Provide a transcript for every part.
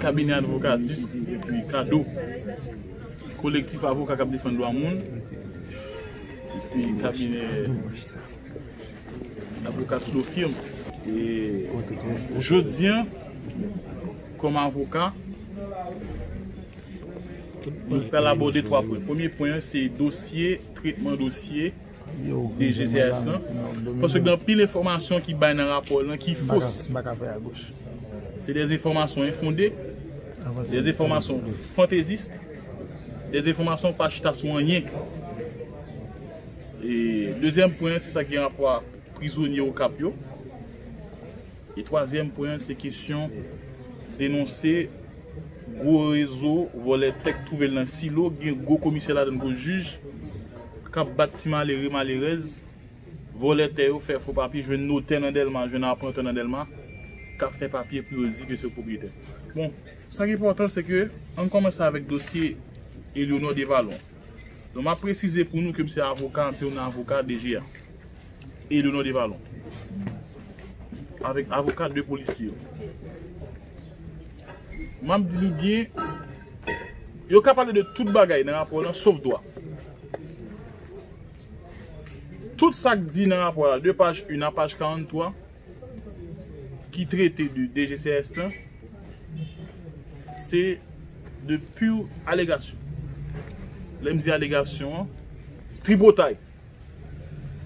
Kabinè Advocatus epi Kado ki kolektif avoka k ap defann dwa moun epi kabinè Advocatus Law Firm Jodi an kòm avoka nou pral abòde 3 pwen Premye pwen an se dosye tretman dosye DGCIS lan, paske gen anpil enfòmasyon ki bay nan rapò lan ki fos. Se de enfòmasyon enfonde, de enfòmasyon fantezist, de enfòmasyon pa chita sou anyen. E dezyèm pwen, se sa ki gen rapò a prizonye Okap yo. E twazyèm pwen an se kesyon denonse gwo rezo vòlè tèk twouve l nan silo, ki gen gwo komisè ladan l gwo jij, k ap bat ti malere, malerèz, vòlè tè yo, fè fo papye, jwenn notè nan Dèlma, jwenn aprantan nan Dèlma, k ap fè papye pou yo di ke se yo k pwopriyetè. Bon, sa k enpòtan se ke, an n kòmanse avèk dosye Elionor Devalon. Donk m ap presize pou nou ke m se avoka, m se youn nan avoka DG a. Edenon Devalon avèk avoka 2 polisye yo. Map di nou byen, yo ka pale de tout bagay nan rapò lan sof dwa. Tout sak di nan rapò la de paj 1 a paj 43 ki trete de DGCS lan se de pur alegasyon. Lèm di alegasyon an, tripotay.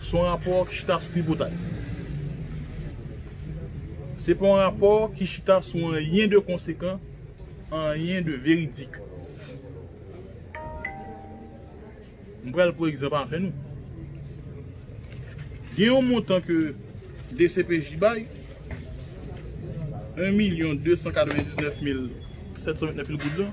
Se yon rapò ki chita sou tripotay. Se pa yon rapò ki chita sou anyen de konsekan, anyen de veridik. M pral pran egzanp avè nou. Gen yon montan ke dcpj bay, 1 milyon 299 mil 729 goud lan.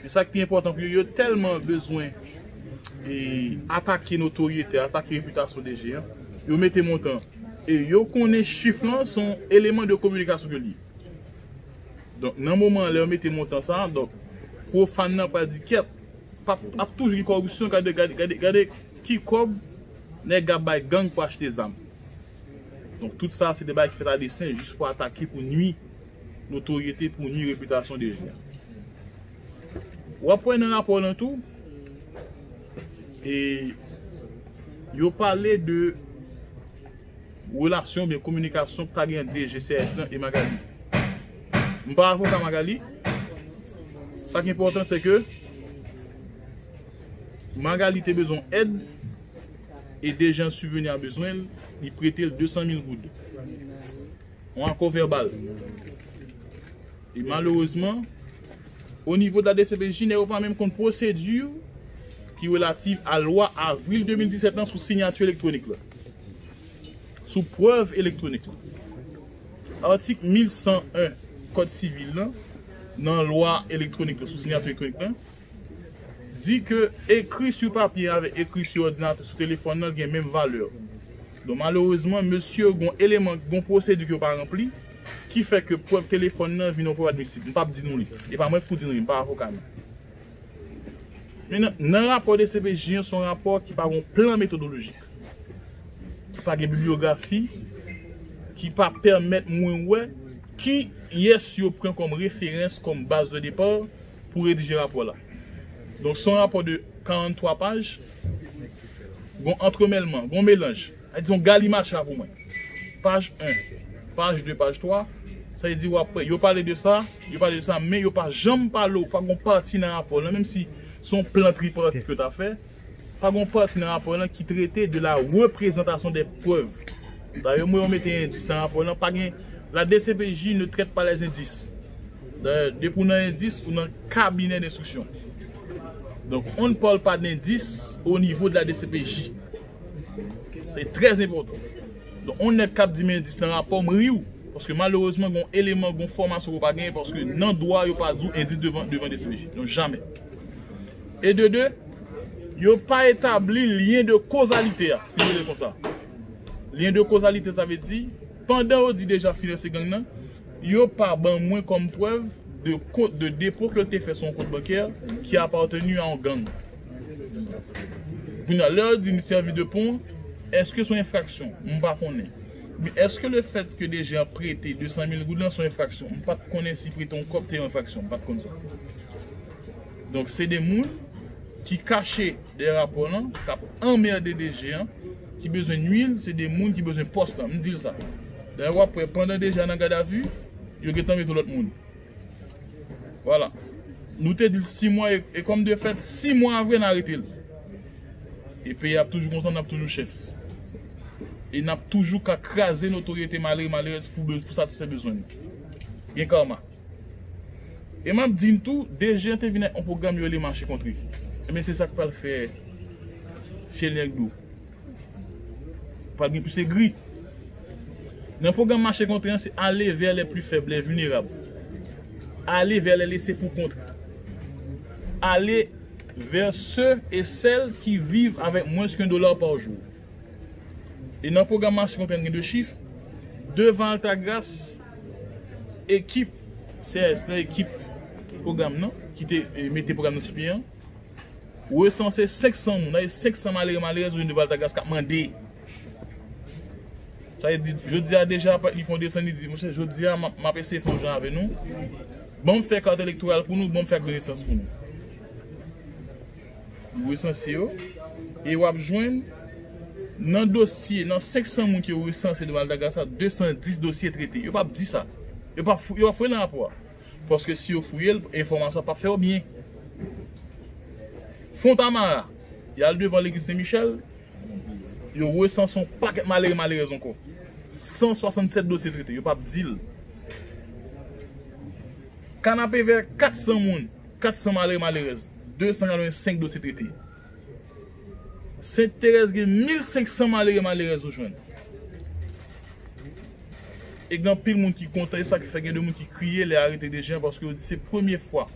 Men sa k pi enpòtan pou yo, yo tèlman bezwen atake notoryete, atake repitasyon DG an, yo mete montan an. E yo konnen chif lan se yon eleman de kominikasyon ke l ye. Donk, nan moman an, lè yo mete montan sa a, donk, pwofàn nan pral di kèt, ap toujou gen kòripsyon, gade ki kòb nèg la bay gang pou achte zam. Donk, tout sa a se de bagay ki fèt a desen jis pou atake, pou nui Notoryete pou nui repitasyon DG a. Ou ap wè nan rapò lan tou, yo pale de relasyon oubyen kominikasyon ki ta gen ant DG CRS lan e Magalie. M pa avoka Magalie, sa ki enpòtan se ke Magalie te bezwen yon èd e DG an sibveni a bezwen l, li prete l 200 mil goud. yon akò vèbal. E malerezman, onivo de la dcpj, nèg yo pa menm konn pwosedi ki relativ a lwa avril 2017 lan sou sinyati elektwonik lan, sou prèv elektwonik lan. Atik 1101 kòd sivil lan, nan lwa elektwonik lan, sou sinyati elektwonik lan, di ke ekri su papye avèk ekri su òdinatè, su telefòn nan gen menm valè. Don malerezman mesye yo gen yon eleman, gen yon pwosedi ke yo pa ranpli, ki fè ke prèv telefòn nan vin yon prèv admisib. M pap di nou li. E pa mwen ki pou di nou li, m pa avoka nou. Men nan rapò dcpj an se yon rapò ki pa gen yon plan metodolojik. Ki pa gen bibliyografi, ki pa pèmèt mwen wè kiyès yo pran kòm referans, kòm baz de depar. pou redije rapò la. Donk son rapò de 43 paj, gon antremèlman, gon melanj, sa vle di yon galimatcha pou mwen. Paj 1, paj 2, paj 3, sa vle di wap wè yo pale de sa, yo pale de sa men yo pa janm pale ou pa gon pati nan rapò lan menm si son plan tripati ke yo ta fè. Pa gon pati nan rapò lan ki trete de la reprezantasyon dè prèv. Dayè mwen omete endis nan rapò lan, pa gen La dcpj ne traite pas les indices. Dayè, depi ou nan endis, ou nan kabinè denstriksyon. Donk, on ne parle pas d'indis au niveau de la dcpj. Sa e trè enpòtan. Donk, on nèg k ap di m endis nan rapò, m ri w. Paske malerezman gon eleman, gon fòmasyon ke w pa genyen paske nan dwa yo pa di w endis devan dcpj. Non, jamè. E de de, yo pa etabli lyen de kozalite a, si nou rele l konsa. Lyen de kozalite sa vle di, pandan yo di Dejan finanse gang nan, yo pa ban mwen kòm prèv de kont de depo ke l te fè sou yon kont bankè ki appartenu a yon gang. Kounye a, lè yo di m sèvi de pon, èske son enfraksyon? M pa konnen. Men èske le fèt ke Dejan prete 200 mil goud lan son enfraksyon? M pa t konnen si prete yon kòb te yon enfraksyon. M pa t konn sa. Donk se 2 moun ki kache dèyè rapò lan kap anmerde DG an ki bezwen nwil se 2 moun ki bezwen pòs lan m dil sa dayè wap wè pandan DG a nan gadavi yo gentan mete lòt moun vwala nou te dil 6 mwa e kòm de fèt 6 mwa a vre nan aretel e peyi ap toujou konsa nap toujou chèf e nap toujou ka kraze notoryete malere malerèz pou satisfè bezwen nou gen karma. E m ap di n tou, DG an te vin ak yon pwogram yo rele mache kontre. Enben se sa k pral fè fye nèg dou. Pral gen plis egri. Nan pwogram mache kontre an se ale vè lè pli fèb, lè vilnerab. Ale vè lè lese pou kont. Ale vè se e sèl ki viv avèk mwens ke 1 dola pa jou. E nan pwogram mache kontre an gen 2 chif. Devan Altagras. Ekip CRS la, ekip pwogram nan, ki te mete pwogram nan sou pye an, resanse 500 moun, sa vle di 500 malere malerèz orijin de Valtagrace k ap mande. Sa vle di, jodi a deja, li fè yon desann, li di, monchè, jodi a, m ap eseye fè yon jan avè nou, ban m fè kat elektoral pou nou, ban m fè ak donesans pou nou. Yo resanse yo e wap jwenn nan dosye, nan 500 moun ki yo resanse nan Madagascar, 210 dosye trete. Yo pap di sa. Yo pap fouye nan rapò a. Paske si yo fouye l, enfòmasyon an pap fè yo byen. Fontamara, y al devan legliz Sen Michèl, yo resanse yon pakèt malere malerèz ankò. 167 dosye trete. Yo pap di l. Kanapevè, 400 moun. 400 malere malerèz, 285 dosye trete. Sent Terèz gen 1500 malere malerèz ou jwenn. E gen anpil moun ki kontan, e sa ki fè gen de moun ki kriye lè arete Dejean paske yo di se premye fwa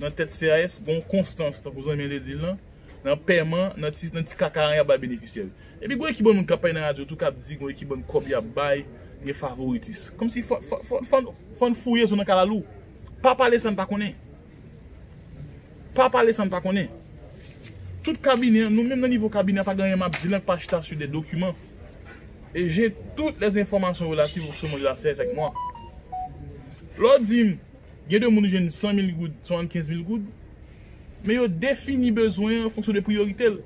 nan tèt CAS gon konstans tankou zanmi an te di l lan, nan pèman, nan ti nan ti kaka an y ap bay benefisyè yo. Epi gon ekip bann moun k ap pale nan radyo tou k ap di gon ekip bann kòb y ap bay, gen favoritis. Kòmsi fò n fò n fò n fò n fouye zo nan kalalou. Pa pale san pa konnen. Pa pale san pa konnen. Tout kabinè an, nou menm nan nivo kabinè an pa gen anyen map di la ki pa chita sou de dokiman. E je tout les enfòmasyon relativ au fonctionnement de la CSE ak mwa. Lè w di m gen de moun ki jwenn 100 mil goud, 75 mil goud, men yo defini bezwen an fonksyon de priyorite l.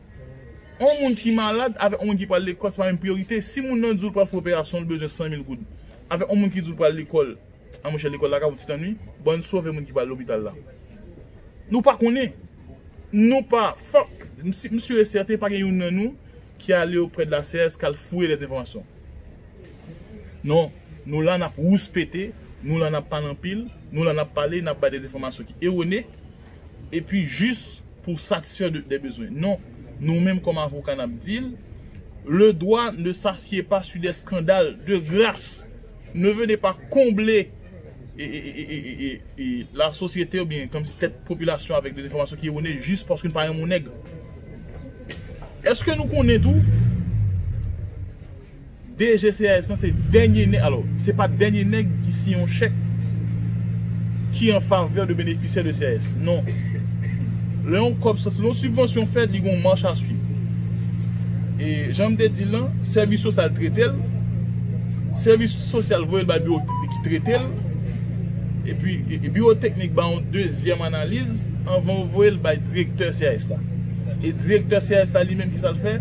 On moun ki malad avèk on moun ki pral lekòl se pa menm priyorite. Si moun nan di w li pral fè operasyon li bezwen 100 mil goud avèk on moun ki di w li pral lekòl. An monchè lekòl la ka yon ti tann wi bon n sove moun ki pral lopital la nou pa konnen nou pa fòk m sur e sèten pa gen youn nan nou ki ale oprè de la cs k al fouye lè enfòmasyon non nou la n ap rouspete nou la n ap pale anpil nou la n ap pale n ap bay de enfòmasyon ki ewone epi jis pou satisfè de bezwen non nou menm kòm avoka n ap di l le dwa ne sasye pa sur de skandal de gras. Nou vini pa konble la sosyete ou byen kòmsi tèt popilasyon avèk dezenfòmasyon ki ewone jis paske nou pa renmen yon nèg. Eske nou konnen tou DGCIS lan se dènye nèg, alò se pa dènye nèg ki siyen yon chèk ki an favè de benefisyè de CIS. Non. Lè yon kòb sòti, lè yon sibvansyon fèt li gen yon mach a swiv. E jan m te di l lan, sèvis sosyal trete l. Sèvis sosyal voye l bay biwo teknik ki trete l, epi biwo teknik ba yon dezyèm analiz anvan yo voye l bay direktè CAS la. E direktè CAS la li menm ki sa l fè?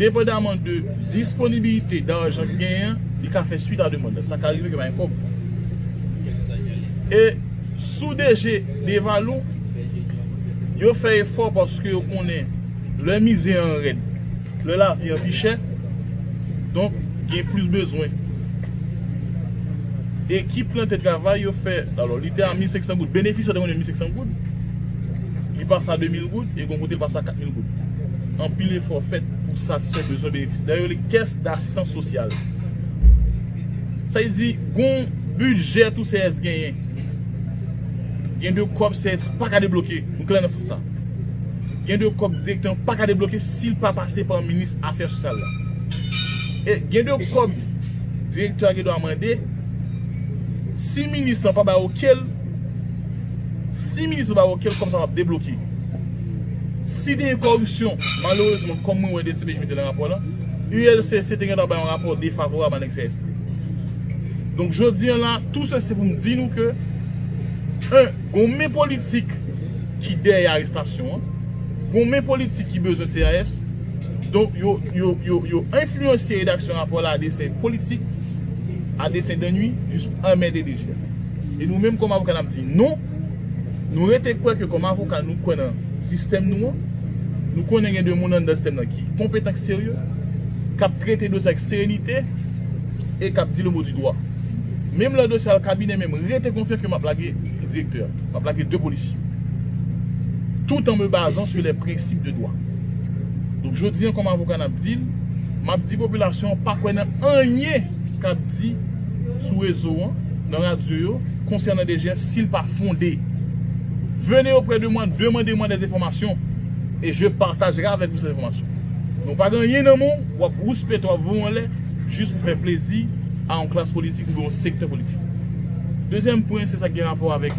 Depandaman de disponibilite dajan ki genyen, li ka fè swit a demand la. Sa ka rive ke pa gen kòb. E sou DG Devalou, yo fè efò paske yo konnen lè mize an rèd, Lè lavi an pi chè, donk gen plis bezwen. Ekip lan te travay, yo fè, alò li te a 1500 goud. Benefis yo te konn ye 1500 goud, li pase a 2000 goud, e gon kote li pase a 4000 goud. Anpil efò fèt pou satisfè bezwen benefis. Dayè yo rele li kès dasistans sosyal. Sa vle di, gon bidjè tou CRS genyen. Gen de kòb CRS pa ka debloke, nou klè nan sans sa. Gen de kòb direktè an paka debloke si l pa pase pa minis afè sosyal la. E gen de kòb direktè a gen dwa mande si minis lan pa bay oke l, si minis lan bay oke l kòb sa pap debloke. Si te gen kòripsyon, malerezman kòm mwen wè dcpj mete nan rapò la, ULCC te gen dwa bay yon rapò defavorab a nèg CST. Donk jodi an la tou sesi pou m di nou ke 1. Gon men politik ki dèyè arestasyon an, gon men politik ki bezwen CAS, donk yo enfliyansye redaksyon rapò la a desen politik, a desen dènui, jis pou anmède DG a. E nou menm kòm avoka n ap di non, nou rete kwè ke kòm avoka nou kwè nan sistèm nou an, nou konnen gen de moun anndan sistèm nan ki konpetan, ki serye, k ap trete dosye ak serenite e k ap di le mo di dwa. Menm lè dosye al kabinè menm rete konfyan ke map lage direktè a, map lage 2 polisye yo. Tout an me bazan su lè prensip de dwa. Donk jodi an kòm avoka nap dil, map di popilasyon an pa kwè nan anyen kap di sou rezo an, nan radyo yo konsènan DGF sil pa fonde. Venez auprès de moi, demandez moi des informations et je partagerai avec vous ces informations. Men w pa gen anyen nan men w, wap rouspeto, wap voye anlè. jis pou fè plezi a yon klas politik oubyen yon sektè politik. Dezyèm pwen se sa ki gen rapò avèk.